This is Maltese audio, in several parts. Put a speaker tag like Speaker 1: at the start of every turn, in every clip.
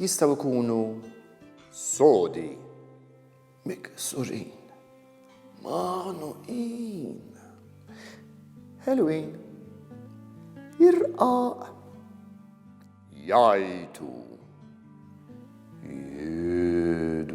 Speaker 1: jistgħu jkunu sodi, miksurin, magħnuqin, ħelwin, jirqaq, jajtu, jidwu.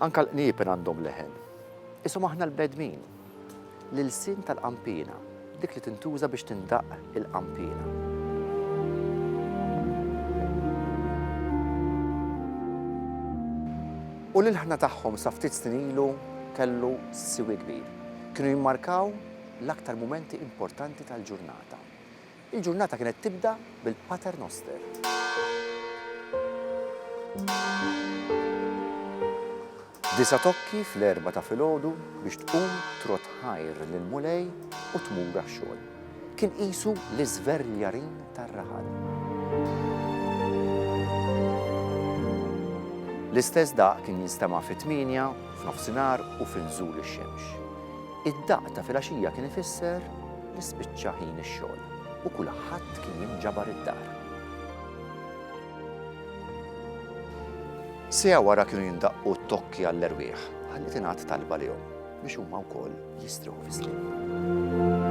Speaker 2: Anka l-qniepen għandhom leħen. Qishom aħna l-bedmin. L-ilsien tal-qanpiena, dik li tintuża biex tindaqq il-qanpiena. U l-ilħna tagħhom sa ftit snin ilu kellu siwi kbir. Kienu jimmarkaw l-aktar mumenti importanti tal-ġurnata. Il-ġurnata kienet tibda bil-Pater Noster. Disa' tokki fl-erbgħa ta' filgħodu biex tqum trott ħajr lill-Mulej u tmur għax-xogħol. Kien qisu l-iżverljarin tar-raħal. L-istess daqq kien jinstema' fit-tmienja, f'nofsinhar u fi nżul ix-xemx. Id-daqq ta' filgħaxija kien ifisser li spiċċa ħin ix-xogħol u kulħadd kien jinġabar id-dar. Siegħa wara kienu jindaqqu t-tokki għall-erwieħ ħalli tingħad talba lihom biex huma wkoll jistrieħu fis-sliem.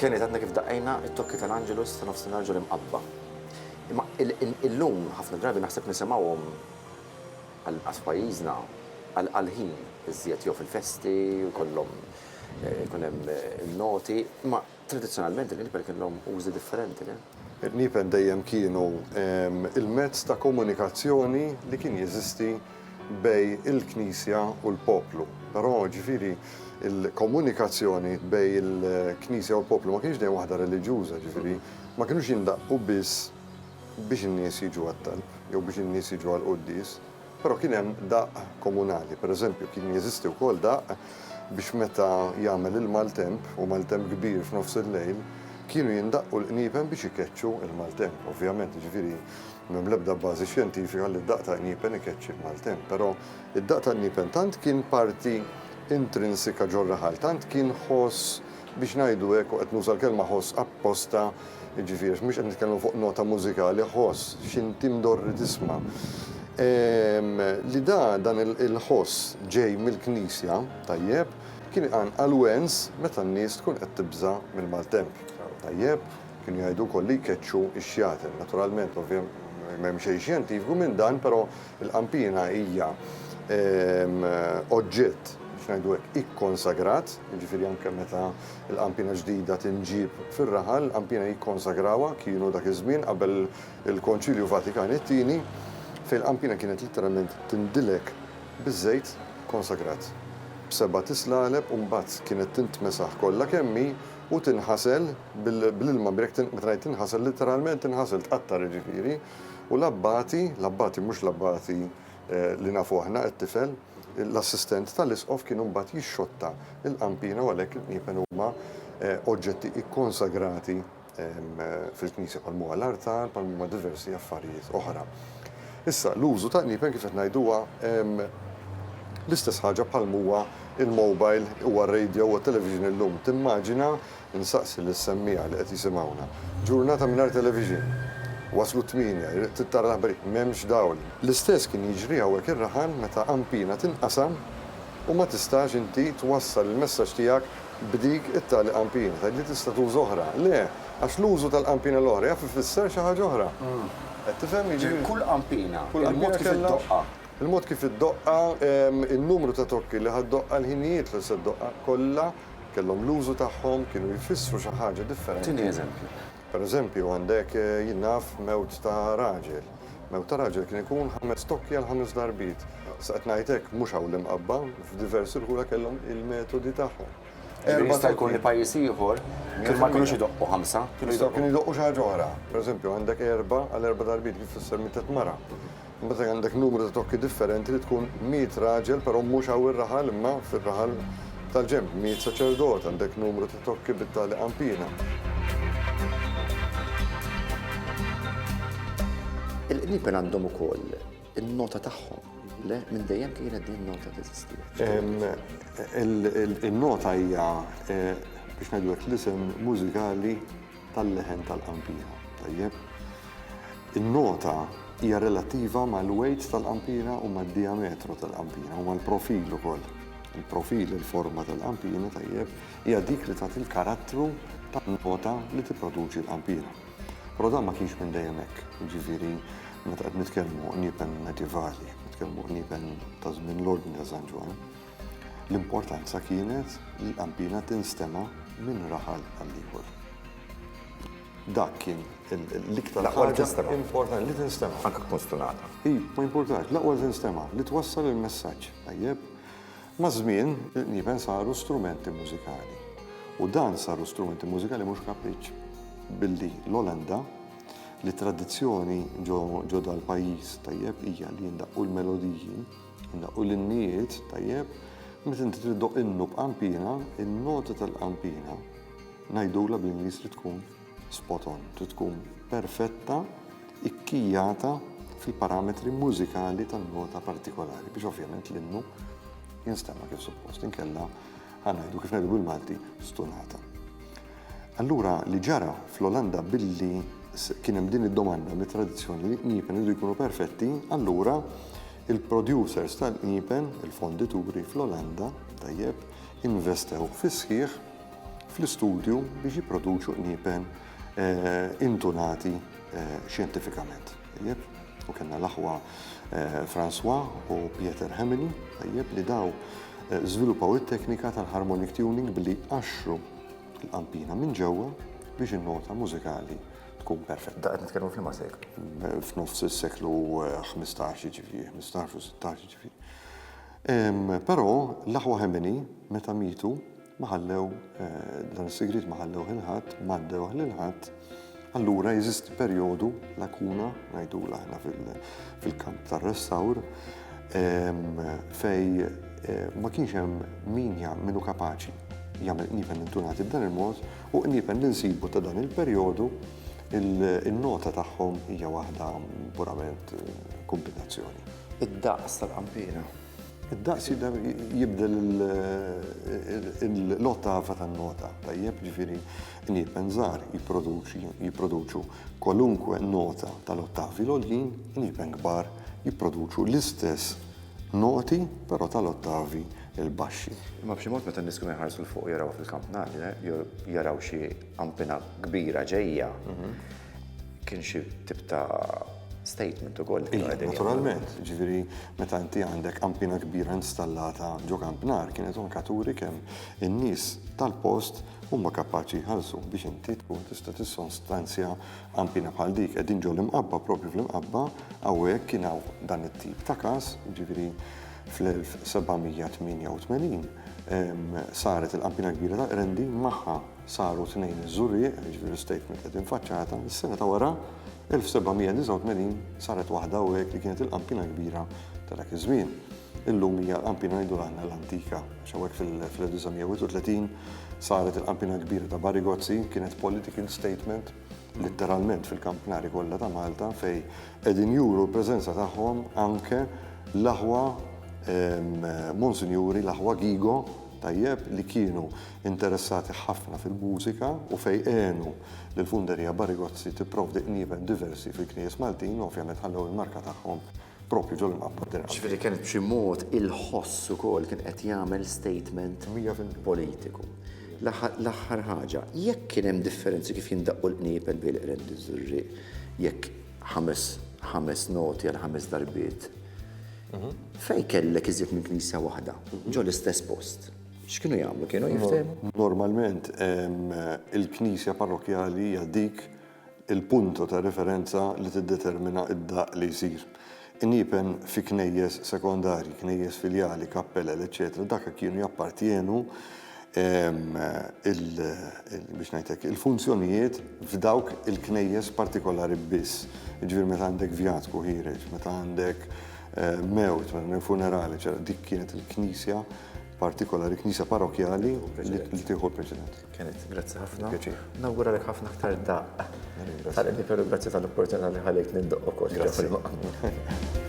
Speaker 2: Kenny, tatna kif daqqejna it-tokki tal-Angelus ta' nofsinhar ġol imqabba. Imma illum ħafna drabi naħseb nisimgħuhom anqas f'pajjiżna għal ħin iżjed jew fil-festi jkollhom ikun hemm in-noti, imma Tradizzjonalment il-qniepen kellhom użi differenti, le? Il-qniepen
Speaker 3: dejjem kienu l-mezz ta' komunikazzjoni li kien jeżisti bejn il-Knisja u l-poplu. Però, ġifieri, il-komunikazzjoni bejn il-Knisja u l-poplu ma kinitx dejjem waħda reliġjuża, ġifieri, ma kinux jindaqqu biss biex in-nies jiġu għat-talb jew biex in-nies jiġu għall-quddies. Però kien hemm daqq komunali. Per eżempju, kien jeżisti wkoll daqq biex meta jagħmel il-maltemp, u maltemp kbir f'nofs il-lejl, kienu jindaqqu l-qniepen biex ikeċċu l-maltemp. Ovvjament, jiġifieri, m'hemm l-ebda bażi xjentifika li d-daqq ta' qniepen ikeċċi l-maltemp. Però d-daqq ta' qniepen tant kien parti intrinsika ġor-raħal, tant kien ħoss biex ngħidu hekk, u qed nuża l-kelma ħoss apposta, jiġifieri għax mhux qed nitkellmu fuq nota mużikali, ħoss x'inti mdorri tisma', li dan il-ħoss ġej mill-Knisja, tajjeb, kien iqanqal wens meta n-nies tkun qed tibża' mill-maltemp, tajjeb, kienu jgħidu wkoll li jkeċċu x-xjaten, naturalment, ovvjament, m'hemm xejn xjentifiku minn dan, però Il-qampina hija oġġett, biex ngħidu hekk, ikkonsagrat, jiġifieri anke meta l-qampina ġdida tinġieb fir-raħal, il-qampina jikkonsagrawha, kienu dak iż-żmien qabel il-Konċilju Vatikan it-Tieni, fejn il-qampina kienet litteralment tindilek biż-żejt konsagrat b'seba' tislaleb u mbagħad kienet tintmesaħ kollha kemm hi u tinħasel bl-ilma, meta ngħid tinħasel, litteralment tinħasel, tqattar jiġifieri. U l-abbati, l-abbati, mhux l-abbati li nafu aħna, it-tifel, l-assistent tal-isqof kienu mbagħad jixxotta l-qampina u għalhekk il-qniepen huma oġġetti ikkonsagrati fil-Knisja bħal huma l-artal, bħal huma diversi affarijiet oħra. Issa, l-użu ta' qniepen kif qed ngħid huwa l-istess ħaġa bħal m'huwa l-mobile, huwa r-radio, huwa t-television illum. Timmaġina Insaqsi lis-semmiegħa li qed jisimgħuna, Ġurnata mingħajr televixin! Waslu t-tmienja, irrid trid tara l-aħbarijiet, m'hemmx dawl! L-istess kien jiġri hawnhekk ir-rahan meta qampina tinqasam u ma tistax inti twassal il-messaġġ tiegħek b'dik it-tali qampina. Tgħidli tista' tuża oħra. Le, għax l-użu tal-qampina l-oħra jaf ifisser xi ħaġa oħra. Qed tifhem? Jiġifieri kull qampina,
Speaker 2: il-mod kif iddoqqha.
Speaker 3: Il-mod kif
Speaker 2: iddoqqha,
Speaker 3: in-numru ta' tokki li ħa ddoqqha, il-ħinijiet li se ddoqqha, kollha Kellhom l-użu tagħhom, kienu jfissru xi ħaġa differenti. Tini eżempju.
Speaker 2: Per eżempju,
Speaker 3: għandek, jien naf, mewt ta' raġel. Mewt ta' raġel kien ikun ħames tokki għal ħames darbiet. Issa qed ngħid hekk, mhux hawn l-Imqabba, f'diversi rħula kellhom il-metodi tagħhom. Ġifieri jista' jkun
Speaker 2: li pajjiż ieħor kien ma kinux idoqqu ħamsa, kienu jdoqqu. Kienu jdoqqu xi ħaġa
Speaker 3: oħra. Per eżempju, għandek erba' għal erba' darbiet kif tfisser mietet mara. Meta għandek numru ta' tokki differenti li tkun miet raġel però mhux hawn ir-raħal imma fir-raħal tal-ġenb, miet saċerdot, għandek numru ta' tokki bit-tali qampina.
Speaker 2: Il-qniepen għandhom ukoll in-nota tagħhom, le? Minn dejjem kienet din nota teżisti?
Speaker 3: In-nota hija biex ngħidu hekk l-isem mużikali tal-leħen tal-qanpiena. Tajjeb. In-nota hija relattiva mal-weight tal-qanpiena u mad-dijametru tal-qanpiena u mal-profil ukoll. Il-profil, il-forma tal-qanpiena, tajjeb, hija dik li tagħti l-karattru tan-nota li tipproduċi l-qanpiena. Però dan ma kienx minn dejjem hekk, jiġifieri meta qed nitkellmu niepen medjevali, qed nitkellmu niepen ta' żmien l-Ordni ta' San Ġwann, L-importanza kienet li l-qanpiena tinstema' minn raħal għall-ieħor. Dak kien l-iktar L-aqwa li ħaġa tinstema'.
Speaker 2: importanti li
Speaker 3: tinstema'. Anke tkun stunata.
Speaker 2: I, ma jimpurtax,
Speaker 3: l-aqwa li tinstema', li twassal il-messaġġ. Tajjeb. Maż-żmien, il-qniepen saru strumenti mużikali. U dan saru strumenti mużikali mhux kapriċċ. Billi l-Olanda, li t-tradizzjoni ġo ġo dal-pajjiż, tajjeb, hija li jindaqqu l-melodiji, Innaqqu l-innijiet, tajjeb, meta inti trid doq innu b'qampina, in-nota tal-qampina ngħidulha bl-Ingliż trid tkun spot on, trid tkun perfetta, ikkijata fil-parametri mużikali tan-nota partikolari biex ovvjament l-innu jinstema' kif suppost, inkella ħanajdu kif ngħidu bil-Malti stunata. Allura li ġara fl-Olanda billi kien hemm din id-domanda mit-tradizzjoni li l-qniepen iridu jkunu perfetti, allura il-producers tal-qniepen, il-fondituri fl-Olanda, tajjeb, investew fis-sħiħ fl-istudju biex jipproduċu qniepen intunati xjentifikament. Tajjeb? U kellna l-aħwa François u Pieter Heminy, tajjeb, li daw żviluppaw it-teknika tal-harmonic tuning billi jqaxxru il-qampina minn ġewwa biex in-nota mużikali tkun perfetta. Da qed nitkellmu f'liema seklu?
Speaker 2: F'nofs is-seklu
Speaker 3: 15 eh, ġifieri, 15 u 16 ġifieri. Però l-aħwa ħemini meta mitu ma ħallew eh, dan is-sigriet ma ħallew il-ħadd, ma ħallew lil ħadd Allura jeżisti perjodu, lakuna, ngħidula aħna fil-kamp tar-restawr, ehm, fej eh, ma kienx hemm min minnu kapaċi jagħmel qniepen intunati b'dan il-mod u qniepen li nsibu ta' dan il-perjodu il-nota tagħhom hija waħda purament eh, kombinazzjoni. Id-daqs
Speaker 2: tal-qampina. Id-daqs
Speaker 3: jibdel l-ottafa tan-nota, tajjeb ġifieri L-ieben żgħar jipproduċi, jipproduċu, kwalunkwe nota tal-ottavi l-għoljin, l-ieben kbar jipproduċu l-istess noti però tal-ottavi l-baxxi. Imma b'xi mod meta
Speaker 2: n-nies kienu jħarsu 'l fuq jarawha fil-kampnarja, jew jaraw xi qampina kbira ġejja, kien xi tip ta' statement ukoll li kienu qegħdin jagħmlu. Naturalment,
Speaker 3: jiġifieri meta inti għandek qampina kbira installata ġo kampnar kienet anke turi kemm in-nies tal-post huma kapaċi jħallsu biex inti tkun tista' tissonstanzja għampina bħal dik. Qegħdin ġol imqabba propju fl-imqabba hawnhekk kien hawn dan it-tip ta' każ, ġifieri fl-1788 saret il-qampina kbira ta' Qrendi magħha saru tnejn iż-żurrieq, ġifieri statement qed infaċċata, is-sena ta' wara 1789 saret waħda hawnhekk li kienet il-qampina kbira ta' dak iż-żmien. Illum hija l-qampina ngħidu aħna l-antika, għax hawnhekk fil-1931 saret il-qampina kbira ta' Barigozzi, kienet political statement litteralment fil-kampnari kollha ta' Malta fej qegħdin juru l-preżenza tagħhom anke l-aħwa Monsinjuri, l-aħwa Gigo tajjeb li kienu interessati ħafna fil-mużika u fej għenu li l-funderija Barigozzi tipprovdi qnieven diversi fil-knies Maltin, ovvjament ħallew il-marka tagħhom. proprju ġol-imħabba tirgħab. Jiġifieri kien b'xi mod
Speaker 2: il-ħoss ukoll kien qed jagħmel statement politiku. L-aħħar ħaġa, jekk kien hemm differenzi kif jindaqqu l-qniepen bejn il-qrend u ż-żurrieq, jekk ħames ħames noti għal ħames darbiet, mhm. fejn kellek iżjed minn knisja waħda, ġol istess post. X'kienu jagħmlu? Kienu jiftehmu? Normalment
Speaker 3: il-knisja parrokjali hija dik il-punto ta' referenza li tiddetermina d-daqq li jsir. Iniepen fi knejjes sekondarji, knejjes filjali, kappelel, eċċetera daka kienu jappartjenu il, biex ngħid hekk, il-funzjonijiet f'dawk il-knejjes partikolari biss. Jiġifieri meta għandek vjatku ħiereġ, meta għandek mewt, meta għandek funeral, eċċetera dik kienet il-knisja partikolari, knisja parokjali li tieħu l-preċedenza. Kenneth, grazzi ħafna.
Speaker 2: Pjaċir. Nawguralek ħafna aktar daqq. Tal-qed veru grazzi tal-opportunità li ħalejt nindoq ukoll. Grazzi.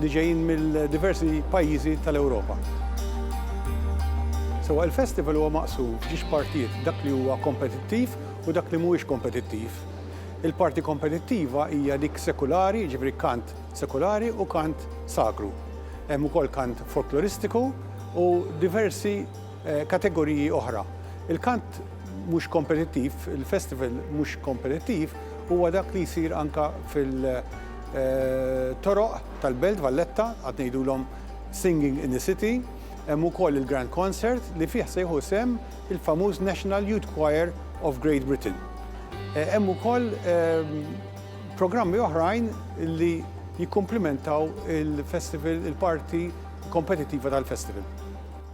Speaker 4: li ġejjin mill-diversi pajjiżi tal-Ewropa. Sewwa il-festival huwa maqsum f'ġiex partijiet, dak li huwa kompetittiv u dak li mhuwiex kompetittiv. Il-parti kompetittiva hija dik sekulari, jiġifieri kant sekulari u kant sagru. Hemm ukoll kant folkloristiku u diversi kategoriji oħra. Il-kant mhux kompetittiv, il-festival mhux kompetittiv huwa dak li jsir anke fil-toroq tal-Belt Valletta, għad ngħidulhom Singing in the City, hemm ukoll il-Grand Concert li fih se jieħu sehem il-famuż National Youth Choir of Great Britain. Hemm ukoll programmi oħrajn li jikkumplimentaw il-festival, il-parti kompetittiva tal-festival.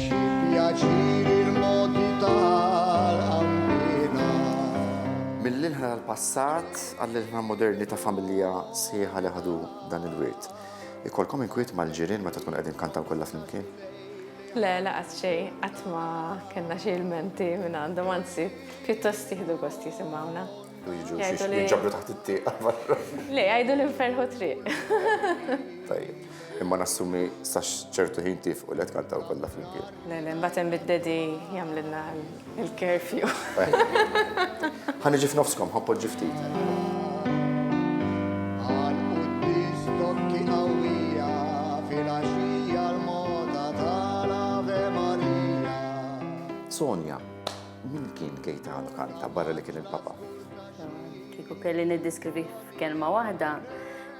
Speaker 5: Xi pjaċir il-modi tal-qanbina. Mill-ilħna
Speaker 2: tal-passat għall-ilħna moderni ta' familja sħiħa li ħadu dan il-wirt. Ikollkom inkwiet mal-ġirien meta tkunu qegħdin tkantaw kollha flimkien? Le,
Speaker 6: lanqas xejn, qatt ma kellna xi ilmenti minn għandhom, anzi, pjuttost jieħdu gost jisimgħuna. U jiġu xiex
Speaker 2: jinġabru taħt it-tieqa barra. Le, għajdu li nferħu
Speaker 6: triq. Tajjeb.
Speaker 2: Imma nassumi sax ċertu ħin tif u let kanta u kolla flimkien. Le, le, mbatem
Speaker 6: bid-dedi jamlinna il-kerfju. Għan
Speaker 2: iġi f'nofskom, ħappod ġiftit.
Speaker 5: Għan u t-distokki għawija fil-axija l-moda tal-Ave Maria.
Speaker 2: Sonja, Min kien Gaetano Canta barra li kien il-Papa? Kieku
Speaker 7: kelli niddiskrivi f'kelma waħda,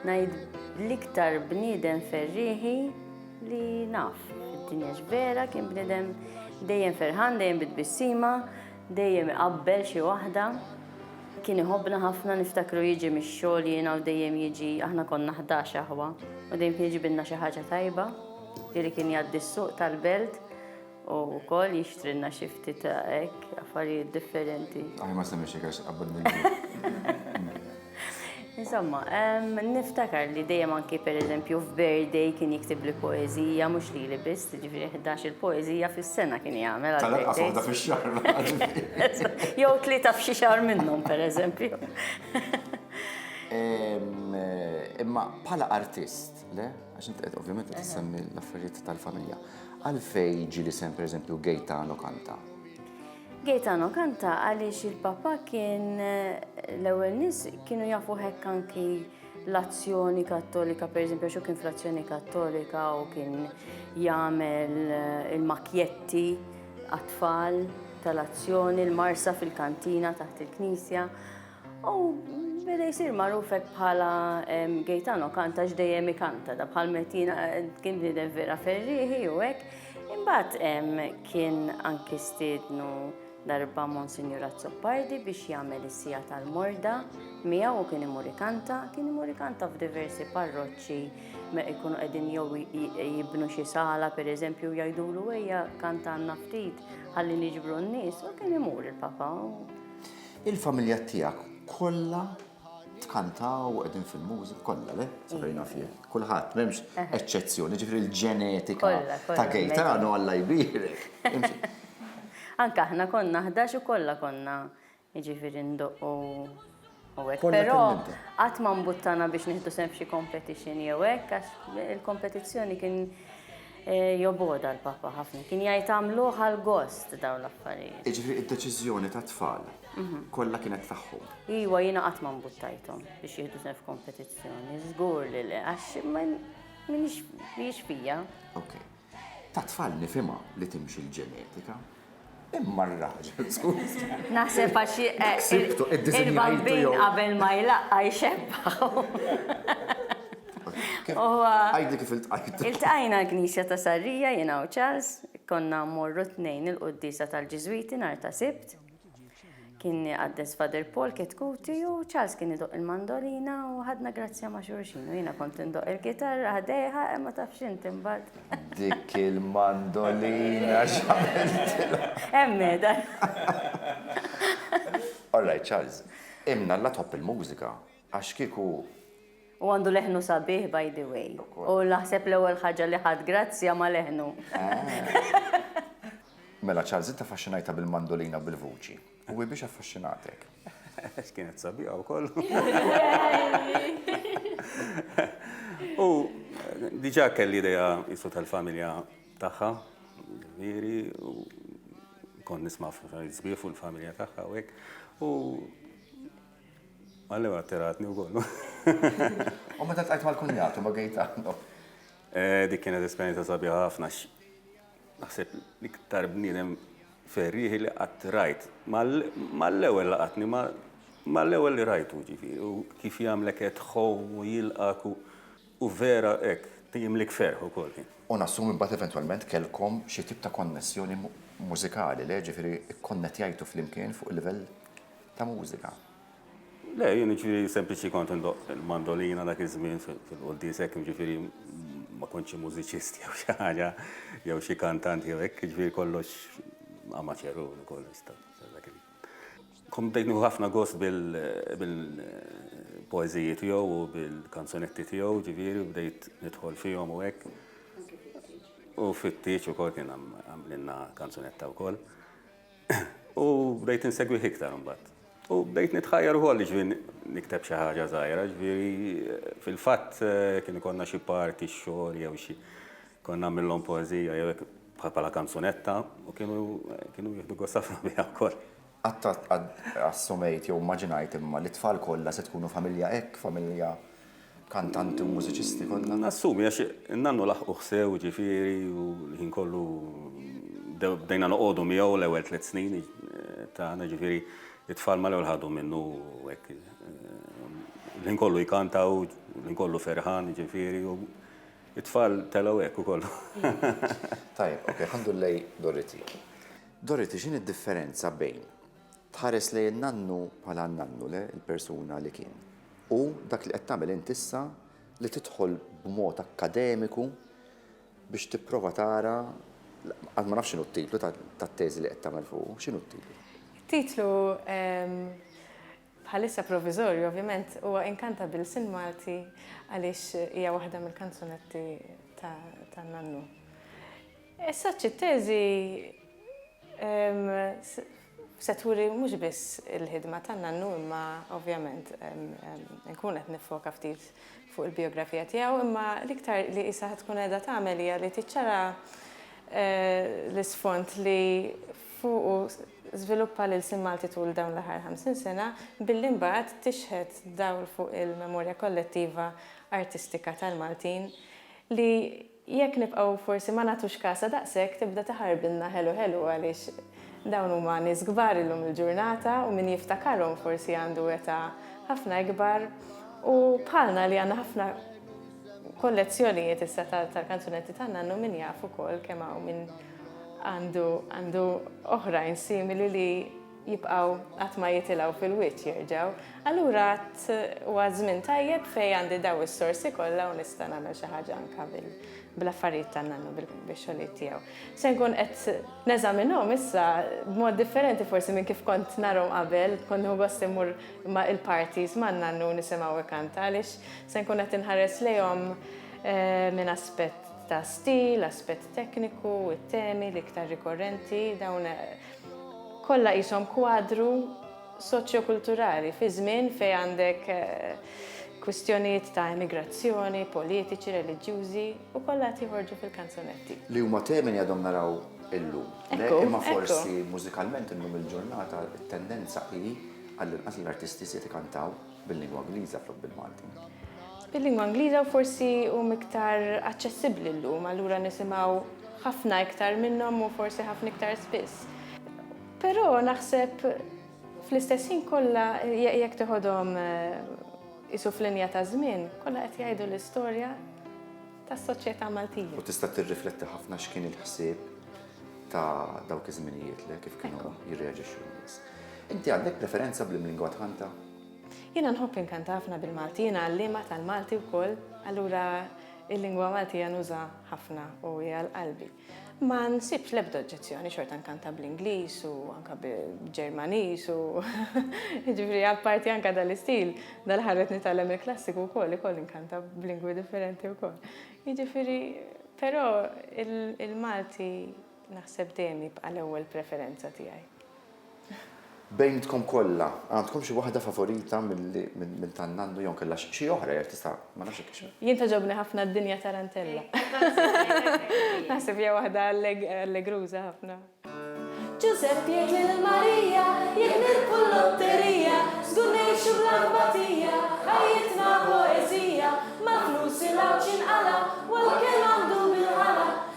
Speaker 7: ngħid l-iktar bniedem ferriħi li naf. Id-dinja vera kien bniedem dejjem ferħan, dejjem bitbissima, dejjem iqabbel xi waħda. Kien iħobna ħafna niftakru jiġi mix-xogħol jiena u dejjem jiġi aħna konna ħdax aħwa u dejjem jiġi binna xi ħaġa tajba, jieli kien jgħaddi s-suq tal-belt U wkoll jixtrilna xi ftit ta' hekk affarijiet differenti. Aħi ma semmix hekk għax
Speaker 2: qabad
Speaker 7: Insomma, niftakar li dejjem anki per eżempju f'birthday kien jiktib li poezija, mhux li li biss, ġifieri 11 il-poezija fis-sena kien jagħmel. Tal-inqas waħda fix-xahar. Jew tlieta f'xi xahar
Speaker 2: minnhom
Speaker 7: per eżempju.
Speaker 2: Imma bħala artist, Le, għax inti qed ovvjament qed tissemmi l-affarijiet tal-familja. Għalfej ġi li sem pereżempju Gaetano kanta? Gaetano
Speaker 7: kanta għaliex il-papa kien eh, l-ewwel nies kienu jafu hekk anki l-azzjoni kattolika, per eżempju, xo kien fl-azzjoni kattolika u kien jagħmel eh, il-makjetti għat-tfal tal-azzjoni, l-marsa fil-kantina taħt il-knisja. U beda jisir magħruf hekk bħala Gaetano kanta x'dejjem ikanta, da bħal metina kien bniedem vera ferrieħi u hekk. Imbagħad kien anki stiednu darba Monsignor Azzopardi biex jagħmel is-sija tal-morda miegħu u kien imur ikanta, kien imur ikanta f'diversi parroċċi jkunu qegħdin jew jibnu xi sala pereżempju jgħidulu ejja kanta għandna ftit ħalli niġbru n-nies u kien imur il-Papa.
Speaker 2: Il-familja tiegħek kollha tkantaw qegħdin fil-mużik kollha le? Sabejna iva. fih. Kulħadd m'hemmx eċċezzjoni, ġifri l-ġenetika ta' Gaetano Alla jbirek. Anka
Speaker 7: aħna konna ħdax u kollha konna jiġifieri ndoqqu u hekk. Però qatt
Speaker 2: ma mbuttana
Speaker 7: biex nieħdu sem f'xi competition jew hekk għax il-kompetizzjoni kien Jobgħodha l-Papa ħafna. Kien jgħid għamluh għall-gost dawn l-affarijiet. Jiġifieri d-deċiżjoni
Speaker 2: tat-tfal kollha kienet tagħhom? Iwa, jiena qatt ma
Speaker 7: mbuttajthom biex jieħdu sehem f'kompetizzjoni. Żgur li le, għax mhijiex fija. Okej.
Speaker 2: Tat-tfal nifhimha li timxi l-ġenetika. Imma r-raġel, skuża. Naħseb għax
Speaker 7: il-bambin qabel ma jlaqqa' jxebbaħu.
Speaker 2: Għidli kif iltqajtu. Iltqajna l-Knisja
Speaker 7: ta' Sarrija jiena u Charles, konna mmorru t-tnejn il-quddiesa tal-Ġiżwiti nhar ta' Sibt. Kien iqaddes Father Paul Ketkuti u Charles kien idoqq il-mandolina u ħadna grazzja ma' xulxin u jiena kont indoqq il-kitarra ħdejha e ma tafx int imbagħad. Dik
Speaker 2: il-mandolina x'għamiltilha. Hemm meda.
Speaker 7: All
Speaker 2: right Charles, imn Alla tħobb il-mużika Għax kieku. U għandu
Speaker 7: leħnu sabiħ by the way. U naħseb l-ewwel ħaġa li ħadt grazzja ma' leħnu.
Speaker 2: Mela Charles int affaxxinajtha bil-mandolina u bil-vuċi. U hi biex affaxxinatek? Għax kienet
Speaker 8: sabiħa wkoll. U diġà kelli idea qisu tal-familja tagħha, ġifieri, u kont nisma' sbieħ fuq il-familja tagħha u hekk. U Għallew attiratni wkoll. U
Speaker 2: meta tqajt mal-kunjatu ma' Gaetano? Eh,
Speaker 8: dik kienet esperjenza sabiħa ħafna x naħseb l-iktar bniedem ferrieħi li qatt rajt. Mal-ewwel laqatni ma' mal-ewwel li rajtu ġifieri u kif jagħmlek qed home u jilqak u vera hekk jimlik ferħ ukoll kien. U nassumi mbagħad
Speaker 2: eventwalment kellkom xi tip ta' konnessjoni mużikali, le? Ġifieri kkonnettjajtu flimkien fuq il-livell ta' mużika. Le,
Speaker 8: jien jiġifieri sempliċi kont indoqq il-mandolina dak iż-żmien fil-quddies hekk, jiġifieri ma kontx xi mużiċist jew xi ħaġa, jew xi kantant jew hekk, jiġifieri kollox amateur u kollox ta' dak il. Kont bdejt nieħu ħafna gost bil-poeżiji tiegħu u bil-kanzunetti tiegħu, jiġifieri u bdejt nidħol fihom u hekk. U fit-tieġ ukoll kien għamlilna kanzunetta wkoll. U bdejt insegwih iktar imbagħad. U bdejt nitħajjar ukoll ġvin nikteb xi ħaġa żgħira, ġifieri fil-fatt kien ikollna xi party x-xogħol jew xi kont nagħmilhom poeżija jew hekk bħala kanzunetta u kienu kienu jieħdu gost ħafna biha wkoll. Qatt assumejt
Speaker 2: jew immaġinajt imma li t-tfal kollha se tkunu familja hekk, familja kantanti u mużiċisti kollha. Nassumi għax in-nannu
Speaker 8: laħquh sew jiġifieri u l-ħin kollu bdejna noqogħdu miegħu l-ewwel tliet snin tagħna jiġifieri it-tfal mal-ewwel ħadu minnu hekk. L-ħin kollu jkantaw, l-ħin kollu ferħan jiġifieri u it-tfal telgħu hekk ukoll.
Speaker 2: Tajjeb, ok, ħandur lej Dorothy. Dorothy, x'inhi d-differenza bejn Tħares lejn nannu bħala n-nannu, le, il-persuna li kien. U dak li qed tagħmel int issa li tidħol b'mod akkademiku biex tipprova tara għad ma nafx x'inhu t-titlu tat-teżi li qed tagħmel fuq, x'inhu t-titlu? Titlu
Speaker 6: ehm, bħalissa provizorju, ovvjament, huwa Inkanta bil-Sin Malti għaliex hija waħda mill-kanzunetti ta' Nannu. Issa t-teżi se turi mhux biss il-ħidma tan-nannu imma ovvjament inkun qed niffoka ftit fuq il-bijografija tiegħu imma l-iktar li qisha tkun qiegħda tagħmel hija li tiċċara l-isfond li fuqu żviluppa l-ilsien Malti tul dawn l-aħħar 50 sena billi mbagħad tixħet dawl fuq il-memorja kollettiva artistika tal-Maltin li Jekk nibqgħu forsi ma nagħtux kasha daqshekk tibda tiħarbilna ħelu ħelu għaliex dawn huma nies kbar illum il-ġurnata u min jiftakarhom forsi għandu età ħafna ikbar u bħalna li għandna ħafna kollezzjonijiet issa tal-kanzunetti ta' nannu min jaf ukoll kemm hawn min għandu għandu oħrajn simili li jibqgħu qatt ma jitilgħu fil-wiċċ jerġgħu. Allura għad huwa żmien tajjeb fejn għandi dawn is-sorsi kollha u nista' nagħmel xi ħaġa anke bl-affarijiet tan-nannu, bix-xogħlijiet tiegħu. Se nkun qed neżaminhom issa b'mod differenti forsi minn kif kont narhom qabel, kont nieħu gost immur ma' il-parties man-nannu nisimgħu ikanta għaliex se nkun qed inħares lejhom minn aspett ta' stil, aspett tekniku, it-temi l-iktar rikorrenti, dawn Kollha qishom kwadru soċjokulturali fi żmien fejn għandek kwistjonijiet ta' emigrazzjoni, politiċi, reliġjużi u kollha qed joħorġu fil-kanzunetti. Li huma temi li għadhom
Speaker 2: naraw illum. Le, imma forsi mużikalment illum il-ġurnata t-tendenza hi, għallinqas l-artisti żjed ikantaw. Bil-lingwa Ingliża flok bil-Malti. Bil-lingwa
Speaker 6: Ingliża u forsi hum iktar aċċessibbli llum, allura nisimgħu ħafna iktar minnhom u forsi ħafna iktar spiss. Però naħseb fl-istess ħin kollha jekk teħodhom isu f'linja ta' żmien, kollha qed jgħidu l-istorja tas-soċjetà Maltija. U tista' tirrifletti
Speaker 2: ħafna x'kien il-ħsieb ta' dawk iż-żminijiet li kif kienu jirreaġixxu n-nies. Inti għandek preferenza bl-imlingwa tħanta? Jiena nħobb
Speaker 6: inkanta ħafna bil-Malti, jiena għalliema tal-Malti wkoll, allura il-lingwa Maltija nuża ħafna u hija l-qalbi. Ma nsibx l-ebda oġġezzjoni, xorta nkanta bl-Ingliż u anka bil-Ġermaniż u jiġifieri apparti anka dal-istil, dal-aħħar qed nitgħallem il-klassiku wkoll ikoll inkanta b'lingwi differenti wkoll. Jiġifieri però il-Malti naħseb dejjem jibqa' l-ewwel preferenza tiegħi.
Speaker 2: Bejnietkom kollha, għandkom xi waħda favorita minn tan-nannu jew inkella xi oħra jekk tista' ma nafx jekk hix. Jien togħġobni ħafna
Speaker 6: d-dinja tarantella. Naħseb hija waħda allegruża ħafna. Ġużepp jgħid lil Marija, jekk nirbħu l-lotterija, żgur ngħixu bl-anbatija, ħajjitna poeżija, mal-flus il-għawġ jinqala', u għall-kell għandu bil-ħala.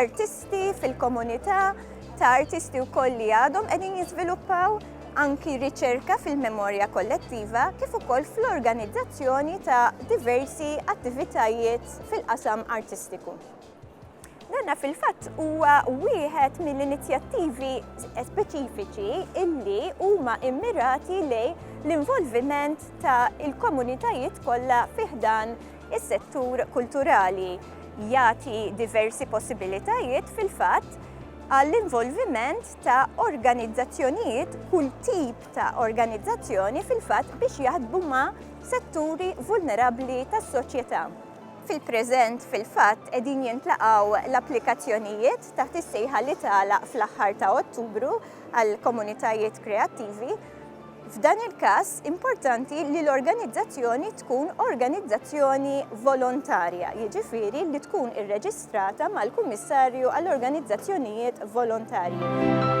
Speaker 9: artisti fil-komunità ta' artisti wkoll li għadhom qegħdin jiżviluppaw anki riċerka fil-memorja kollettiva kif ukoll fl-organizzazzjoni ta' diversi attivitajiet fil-qasam artistiku. Danna fil-fatt huwa wieħed mill-inizjattivi speċifiċi illi huma immirati lej l-involviment ta' il-komunitajiet kollha fiħdan Is-settur kulturali jagħti diversi possibilitajiet fil-fatt għall-involviment ta' organizzazzjonijiet, kull tip ta' organizzazzjoni fil-fatt biex jaħdmu ma' setturi vulnerabbli tas-soċjetà. Fil-preżent fil-fatt qegħdin jintlaqgħu l-applikazzjonijiet taħt is-sejħa li tagħlaq fl-aħħar ta' Ottubru għall-Komunitajiet Kreattivi, F'dan il-każ, importanti li l-organizzazzjoni tkun organizzazzjoni volontarja, jiġifieri li tkun irreġistrata mal-Kummissarju għall-Organizzazzjonijiet Volontarji.